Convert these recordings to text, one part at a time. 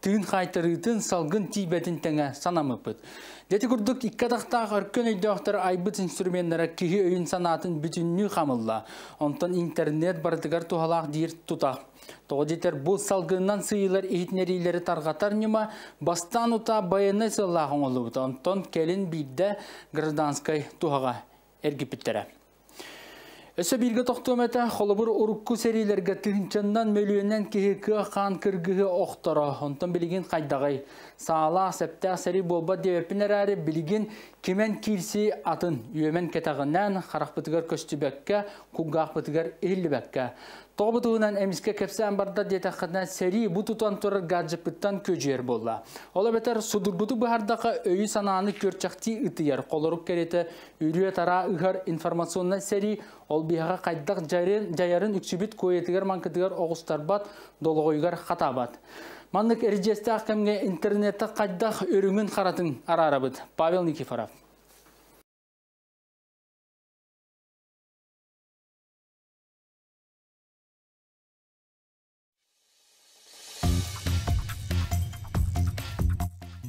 Тыын хаайтарыытын, салгын тиийбэтин тэҥэ санамыппыт. Дьэти курдук икки атахтаах өркөн өйдөөхтөр айбыт инструменнара киһи өйүн-санаатын бүтүннүү хамылла. Онтон интернет барытыгар туһалаах диир тута. Тоҕо диэтэр бу салгынынан сыыйылар иһитинэриилэри тарҕатар ньыма бастаан утаа байыаннай сыаллаах оҥоллубут. Онтон кэлин биирдэ гражданскай туһаҕа эргиппиттэрэ. Өссө бииргэ тохтуом этэ, холобур урукку сэриилэргэ тыһынчаннан мөлүйүөннэн киһи кыа-хаан кыргыһы охторо. Онтон билигин хайдаҕай? Саалаах, сэптээх сэрии буолбат диэбиппин эрээри, билигин кимэн киирсии атын. Үөмэн кэтэҕинэн, харахпытыгар көстүбэккэ, кулгаахпытыгар иһиллибэккэ. Тоҕо бу туһунан эмискэ кэпсээн барда диэтэххинэ, сэрии бу тутан турар гаджеппыттан күөдьүйэр буолла. Ол эбэтэр судургутук быһардахха өйү-санааны күөрчэхтии ытыйар, холорук кэриэтэ үрүө-тараа ыһар информационнай сэрии ол биһаҕа хайдах дьайарын үксүбүт куойатыгар-маҥкытыгар оҕустарбат, долоҕойугар хатаабат. Маннык эридьиэстээх кэмҥэ интернетте хайдах үрүҥүн харатын араарабыт. Павел Никифоров.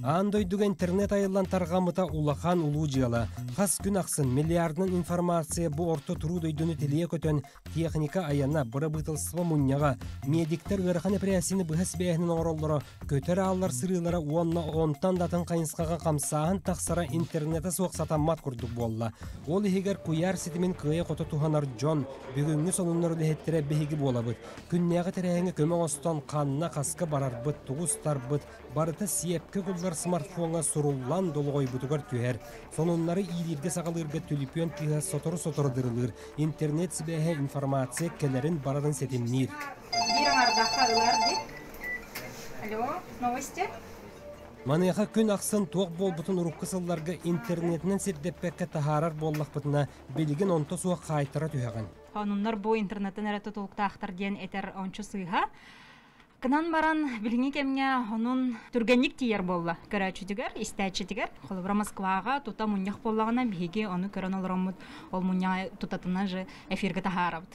Аан дойдуга интернет айыллан тарҕаммыта улахан улуу дьыала. Хас күн ахсын миллиардынан информация бу орто туруу дойдуну тилийэ көтөн, техника айана, бырабыыталыстыба мунньаҕа, медиктэр ыарахан эпэрээссийэни быһа сибээһинэн оҥороллоро, көтөр ааллар сырыылара уонна онтон да атын хайысхаҕа хамсааһын тахсара интернетэ суох сатаммат курдук буолла. Ол иһигэр куйаар ситимин кыайа-хото туһанар дьон, бүгүҥҥү сонуннар үлэһиттэрэ биһиги буолабыт. Күннээҕи тэрээһиҥҥэ көмө оҥостон, ханна, хаска барарбыт, тугу устарбыт, барыта сиэпкэ кылгар смартфоҥҥа суруллан долоҕойбутугар түһэр. Сонуннары иилииргэ-саҕалыырга түлүпүөн кыыһа сотору-сотору дырылыыр. Интернет сибээһэ информация кэлэрин барарын ситимниир. Биир аҥаардахха ылар дии. Алло, новости? Маныаха күн ахсын туох буолбутун урукку сылларга интернетинэн сирдэппэккэ таһаарар буоллахпытына, билигин онто суох хаайтара түһэҕин. Хонуннар бу интернеттан эрэ тутулуктаахтар диэн этэр ончу сыыһа. Кынан баран билиҥҥи кэмҥэ онун түргэнник тиийэр буолла көрөөччүтүгэр, истээччитигэр. Холобура Москваҕа тута мунньах буоллаҕына биһиги ону көрөн олороммут ол мунньаҕы тутатына же эфиргэ таһаарабыт.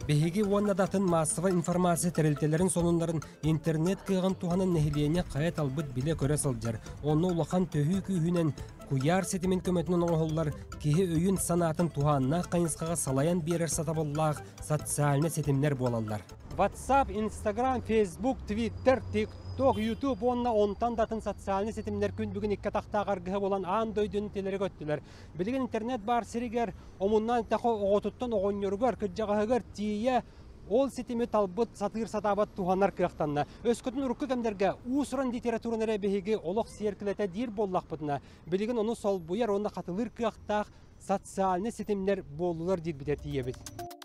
Биһиги уонна да атын маассабай информация тэрилтэлэрин сонуннарын интернет кыаҕын туһанан нэһилиэнньэ хайа талбыт билэ-көрө сылдьар. Онно улахан төһүү күүһүнэн куйаар ситимин көмөтүнэн оҥоһуллар киһи өйүн-санаатын туһааннаах хайысхаҕа салайан биэрэр сатабыллаах социальнай ситимнэр буолаллар. WhatsApp, Instagram, Facebook, Twitter, TikTok, YouTube уонна онтон да атын социальнай ситимнэр күн бүгүн икки атахтаах аргыһа булан аан дойдуну тилэри көттүлэр. Билигин интернет баар сиригэр, омуннан тэхо оҕотуттан оҕонньоругар, кырдьаҕаһыгар тиийэ Ол ситими талбыт, сатыыр-сатаабат туһанар кыахтанна. Өскөтүн урукку кэмнэргэ уус-уран литератураны эрэ биһиги олох сиэркилэтэ диир буоллахпытына, билигин ону солбуйар уонна хатылыыр кыахтаах социальнай ситимнэр буоллулар диирбитэ тиийэбит.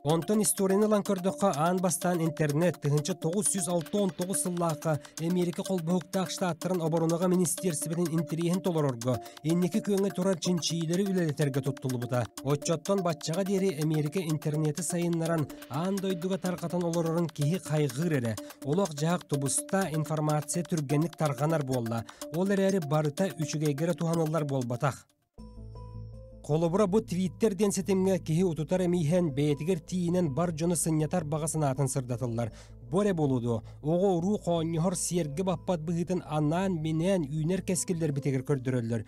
Онтон историяны ылан көрдөххө, аан бастаан интернет тыһынча тоҕус жүз алта он тоҕус сыллаахха Эмиэрикэ Холбоһуктаах Штаттарын оборонаҕа министиэрсибэтин интэриэһин толорорго, Инники күөҥҥэ турар чинчийиилэри үлэлэтэргэ туттуллубута. Оччоттон баччаҕа диэри Эмиэрикэ интернети сайыннаран, аан дойдуга тарҕатан олорорун киһи хайҕыыр эрэ. Олох-дьаһах тубуста, информация түргэнник тарҕанар буолла. Ол эрээри барыта үчүгэйгэ эрэ туһаныллар буолбатах. Холобура бу Twitter диэн ситимҥэ киһи утутар эмииһэн бэйэтигэр тиийинэн бар дьону сынньатар баҕа санаатын сырдатыллар. Бу эрэ болуду, оҕо-уруу хоонньоһор сиэргэ баппат быһыытын анаан-минээн үүнэр кэскиллэрбитигэр көрдөрөллөр.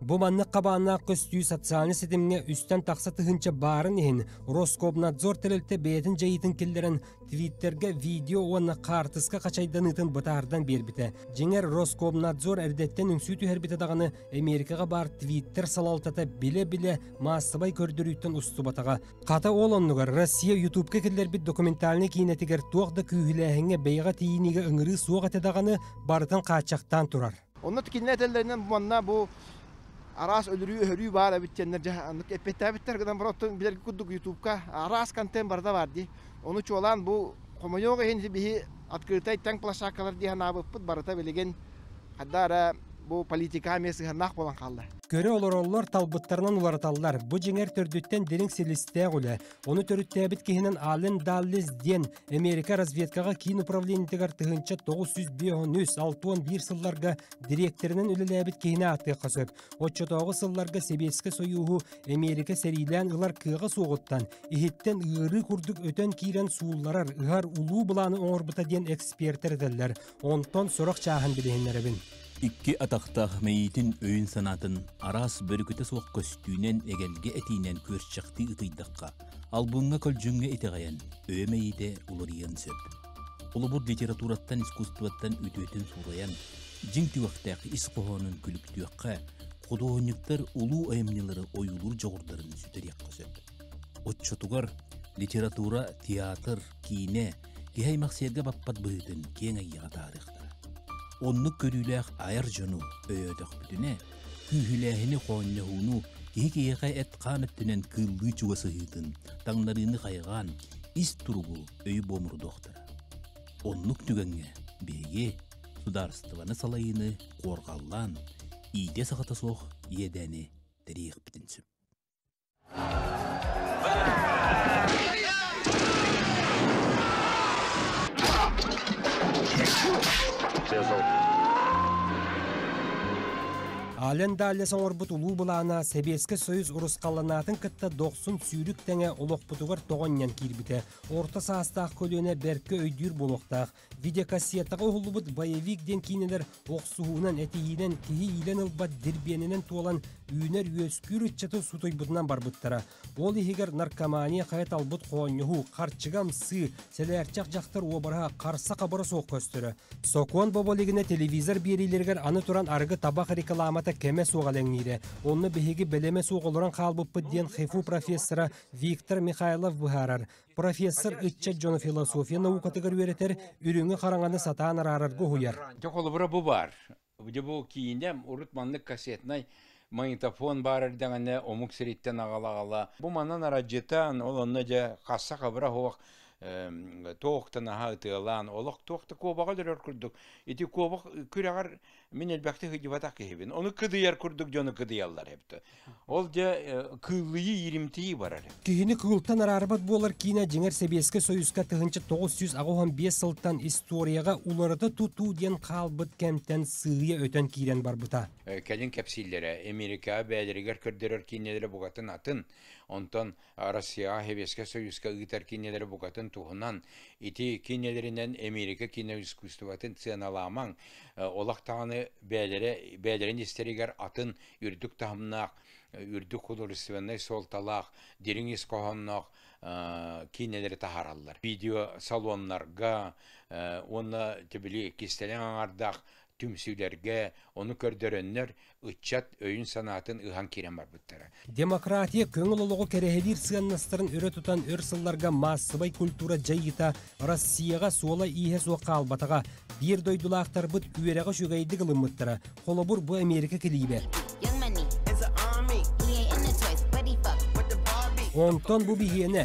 Бу маннык хабааннаах көстүү социальнай ситимҥэ үстэн тахса тыһыынча баарын иһин Роскомнадзор тэрилтэ бэйэтин дьайыытын киллэрэн Твиттергэ видео уонна хаартыска хачайданыытын бытаардан биэрбитэ. Дьиҥэр Роскомнадзор эрдэттэн үҥсүү түһэрбитэ даҕаны Эмиэрикаҕа баар Твиттер салалтата билэ-билэ маассабай көрдөрүүттэн устубатаҕа. Хата ол оннугар Россия Ютубка киллэрбит документальнай киинэтигэр туох да күүһүлээһиҥҥэ бэйэҕэ тиийиниигэ ыҥырыы суох этэ даҕаны, барытын хааччахтаан турар. Онно кинилэр этэллэринэн манна бу араас өлөрүү-өһөрүү баар эбит диэннэр дьэ аннык эппэттээбиттэр гынан бара оттон билэргэ курдук Ютубка араас контент барда баар дии. Ону чуолаан бу хомойуох иһин биһи открытай таҥ площадкалар дии санаабыппыт барыта билигин хадда эрэ бу политика эмиэ сыһыаннаах буолан хаалла. Көрө олороллор талбыттарынан уларыталлар. Бу дьиҥэр төрдүттэн дириҥ силистээх үлэ. Ону төрүттээбит киһинэн Ален Даллис диэн Америка разведкаҕа киин управлениетыгар тыһыынча 953-601 сылларга дириэктэринэн үлэлээбит киһини ааттыахха сөп. Оччотооҕу сылларга Сэбиэскэй Сойууһу Эмиэрикэ сэриилээн ылар кыаҕа суоҕуттан, иһиттэн ыарыы курдук өтөн киирэн суулларар, ыһар улуу былааны оҥорбута диэн экспертэр этэллэр. Онтон сурах чааһын билиһиннэрэбин. Икки атахтаах мэйиитин өйүн-санаатын араас бөрүкүтэ суох көстүүнэн, эгэлгэ этиинэн күөрчэхтии ытыйдахха, албыҥҥа көлдьүҥҥэ итэҕэйэн, өйө мэйиитэ уларыйыан сөп. Холобур, литератураттан, искусствоттан үтүөтүн суурайан, дьиҥ түгэхтээх ис хоһоонун күлүктүөххэ, худуоһунньуктар улуу айымньылары ойуулуур дьоҕурдарын сүтэриэххэ сөп. Оччотугар литература, театр, Киинэ киһи-аймах сиэргэ баппат быһыытын киэҥ айыаҕа таарыахтара. Оннук көрүүлээх айар дьону өйөөтөхпүтүнэ, күүһүлээһини, хоонньоһууну, киһи киһиэхэ эт-хаан өттүнэн кыыллыы чугасыһыытын, таҥнарыыны хайҕаан, ис туругу, өй буомурдуохтара. Оннук түгэҥҥэ биһиги судаарыстыбаны салайыыны куорҕаллаан, иитэ-саҕата суох иэдээни тэриэхпитин сөп. Ален Даллес оҥорбут улуу былаана Сэбиэскэй Союз урусхалланаатын кытта дохсун сүүрүк тэҥэ олохпутугар тоҕонньон киирбитэ. Орто саастаах көлүөнэ бэркэ өйдүүр буолуохтаах. Видеокассетаҕа уһуллубут Боевик диэн киинэлэр охсуһуунан, этиһиинэн, киһи иилэн ылбат дирбиэнинэн туолан, үүнэр үөскүүр ыччаты сутуйбутунан барбыттара. Ол иһигэр наркомания хайа талбыт хоонньоһуу, харчыга ымсыы, сэлээрчэх дьахтар уобараһа харса-хабара суох көстөрө. Сокуон бобо илигинэ телевизор биэриилэригэр аны туран арыгы табах рекламата кэмэ суох элэҥниирэ. Онно биһиги бэлэмэ суох олорон хаалбыппыт диэн ХИФУ профессора Виктор Михайлов быһаарар. профессор ыччат дьоно философия наукатыгар үөрэтэр, үрүҥү хараҥаны сатаан араарарга уһуйар. Дьэ, холобура бу баар. Дьэ, бу киинэ урут маннык кассетнай магнитофон баар эрдэҕинэ омук сириттэн аҕала-аҕала бу манан арадьытаан ол онно дьэ хасса хабыра оһох туох да наһаа ытыалаан олох туох да куобаҕа дөрөр курдук ити куобах күрэҕэр Мин элбэхтик сыдьыбатах киһибин. Ону кыдыйар курдук дьону кыдыйаллар эбитэ. Ол дьэ кыыллыйыы, иримтийии барар эбит. Киһини кыылтан араарбат буолар киинэ дьиҥэр Сэбиэскэй Союзка тыһыынча тоҕус сүүс аҕыс уон биэс сылтан историяҕа уларыта тутуу диэн хаалбыт кэмтэн сыыйа өтөн киирэн барбыта. Кэлин кэпсииллэрэ Эмиэрикэҕэ бэйэлэригэр көрдөрөр киинэлэрэ букатын атын. Онтон Арассыыйаҕа Сэбиэскэй Союзка ыытар киинэлэри букатын туһунан, ити киинэлэринэн Эмиэрикэ кино искусствотын сыаналаамаҥ, олох даҕаны бэйэлэрэ, бэйэлэрин истэригэр атын үрдүк таһымнаах, үрдүк художественнай суолталаах, дириҥ ис хоһоонноох киинэлэри таһаараллар. Видеосалоннарга уонна кистэлэҥ аҥардаах түмсүүлэргэ, ону көрдөрөннөр ыччат өйүн-санаатын ыһан киирэн барбыттара. Демократия көҥүл олоҕу кэрэһилиир сыаннастарын өрө тутан өр сылларга маассабай культура дьайыыта Россияҕа суола-ииһэ суох хаалбатаҕа. Биир дойдулаахтарбыт үөрэҕи үчүгэйдик ылыммыттара. Холобур, бу Америка килиибэ. Онтон бу биһиэнэ, бу биһиэнэ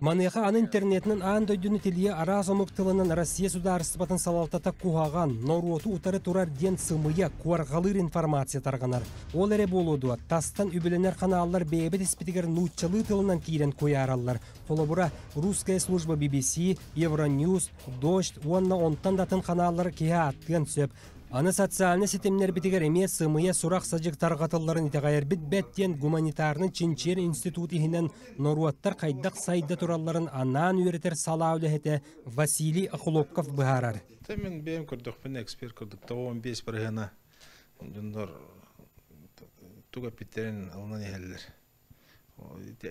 Маныаха аны интернетинэн аан дойдуну тилийэ араас омук тылынан Россия судаарыстыбатын салалтата куһаҕан, норуоту утары турар диэн сымыйа, куарҕалыыр информация тарҕанар. Ол эрэ буолуо дуо, тастан үбүлэнэр каналлар бэйэбит испитигэр нууччалыы тылынан киирэн куйаараллар. Холобура, русская служба BBC, Евроньюз, Дождь уонна онтон датын ханааллар киһи ааттыан сөп. Аны социальнай ситимнэрбитигэр эмиэ сымыйа сурах-садьык тарҕатылларын итэҕэйэрбит бэрт диэн гуманитарнай чинчийэр институт иһинэн норуоттар хайдах сайда туралларын анаан үөрэтэр салаа үлэһитэ Василий Охлопков быһаарар. Мен бэйэм көрдөхпүнэ эксперт курдук тоҕуон биэс барыһына дьоннор туга питтерин алынан иһэллэр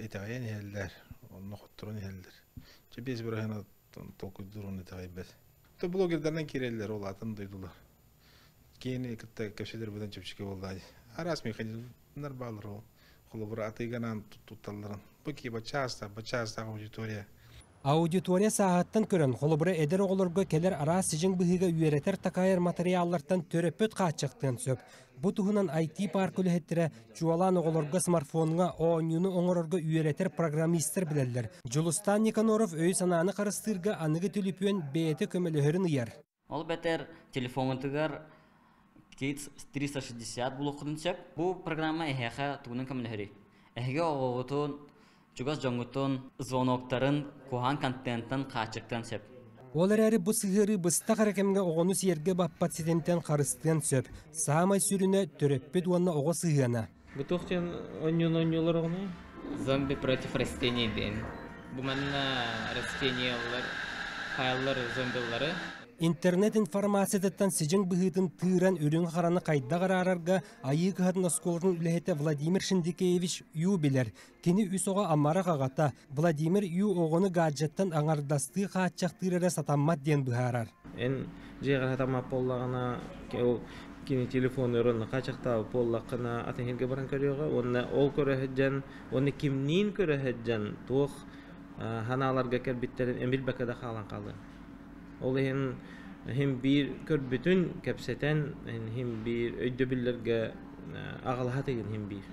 Итэҕэйэн иһэллэр, онно хотторон иһэллэр. Чэ биэс быраһыана толкуйдууруун итэҕэйбэт. То блогердарынан киирэллэр, ол атын дойдулар. Киэни кытта кэпсэтэр быдан чэпчэки буоллаҕа. Араас механизмнар баалар ол. Холобура, атыыганаан тутталларын. Бу киһи баччаастаах, баччаастаах аудитория Аудитория сааһыттан көрөн, холобура, эдэр оҕолорго кэлэр араас сидьиҥ быһыыга үөрэтэр-такайар матырыйааллартан төрөппүт хааччахтыан сөп. Бу туһунан IT-паарка үлэһиттэрэ, чуолаан оҕолорго смартфоҥҥа оонньууну оҥорорго үөрэтэр программистар билэллэр. Дьулустаан Никоноров өй-санааны харыстыырга аныгы төлөпүөн бэйэтэ көмөлөһөрүн ыйар. Ол эбэтэр телефоҥҥутугар Kids 360 булуоххутун сөп. Бу программа эһиэхэ тугунан көмөлөһөрүй? Эһиги оҕоҕутун, чугас дьоҥҥутун звоноктарын куһаҕан контентан хааччыктыан сөп. Ол эрээри бу сыһыарыы быстах эрэ кэмҥэ оҕону сиэргэ баппат ситимтэн харыстыан сөп. Саамай сүрүнэ төрөппүт уонна оҕо сыһыана. Бу туох диэн онньуун-онньуулар Зомби против растений диэн. Бу манна растениялар, хааллар зомбилары Интернет информацияттан сидьиҥ быһыытын тыыран үрүҥ-хараны хайдах араарарга Айыы кыһатын оскуолатын үлэһитэ Владимир Шиндикеевич Ю билэр. Кини үс оҕо амарах аҕата Владимир Ю оҕону гаджеттан аҥардастыы хааччахтыыр эрэ сатаммат диэн быһаарар. Эн дьиэҕэ сатаммат буоллаҕына кини телефон өрүн хаачахтаабыт буоллаххына атын иһиргэ баран көрүөҕэ уонна ол көрө сылдьан уонна кимниин көрө сылдьан туох санааларга кэлбиттэрин эмилбэккэ да хаалан хаалыа ол иһин хим биир көрбүтүн кэпсэтэн хим биир өйдөбүллэргэ аҕалаһа тыгын хим биир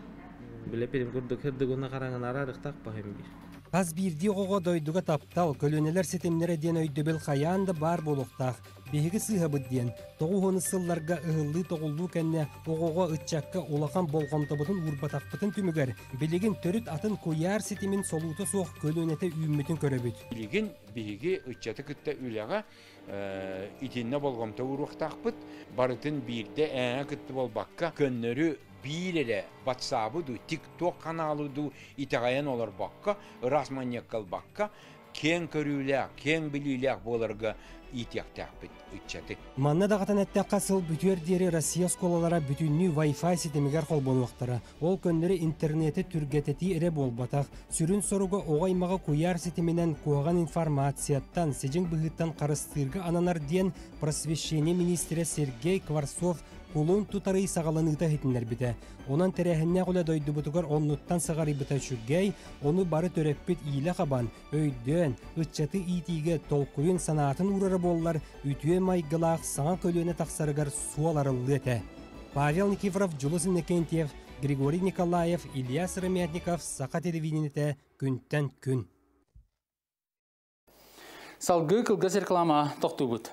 Биле пирим курдук хердугуна хараҥына араарыктакпа хэмбир. Хас биирдии оҕоҕо дойдуга таптал, көлүөнэлэр ситимнэрэ диэн өйдөбүл хайаан да баар буолуохтаах. Биһиги сыыһабыт диэн тоҕус уон сылларга ыһыллыы-тоҕуллуу кэннэ оҕоҕо, ыччакка улахан болҕомтобутун уурбатахпытын түмүгэр билигин төрүт атын куйаар ситимин солуута суох көлүөнэтэ үүммүтүн көрөбүт. Билигин биһиги ыччаты кытта үлэҕэ итиннэ болҕомто ууруохтаахпыт барытын биирдэ ээҥэ кытты буолбакка көннөрү биир эрэ батсаабы дуу тик-туок ханаалы дуу итэҕэйэн олорбокко ыраас манньакка ылбакка киэҥ көрүүлээх киэҥ билиилээх буоларга иитиэхтээхпит ыччатык манна даҕатан эттэххэ сыл бүтүөр диэри россия оскуолалара бүтүннүү вай фай ситимигэр холбонуохтара Ол көннөрү интернети түргэтэтии эрэ буолбатах, сүрүн соруга оҕо-аймаҕы куйаар ситиминэн куһаҕан информацияттан, сидьиҥ быһыыттан харыстыырга ананар диэн просвещение министрэ Сергей Кварцов кулун тутарый саҕаланыыта иһитиннэрбитэ. Онон тэрээһиннээх үлэ дойдубутугар оннуттан сыҕарыйбыта үчүгэй, ону бары төрөппүт иилэ хабан, өйдөөн, ыччаты иитиигэ толкуйун санаатын уурара буоллар, үтүө майгылаах саҥа көлүөнэ тахсарыгар суол арыллыа этэ. Павел Никифоров, Дьулус Иннокентьев, Григорий Николаев, Ильяс Ромятников Саха телевидениетэ күнтэн күн. Салгыы кылгас реклама тохтуубут.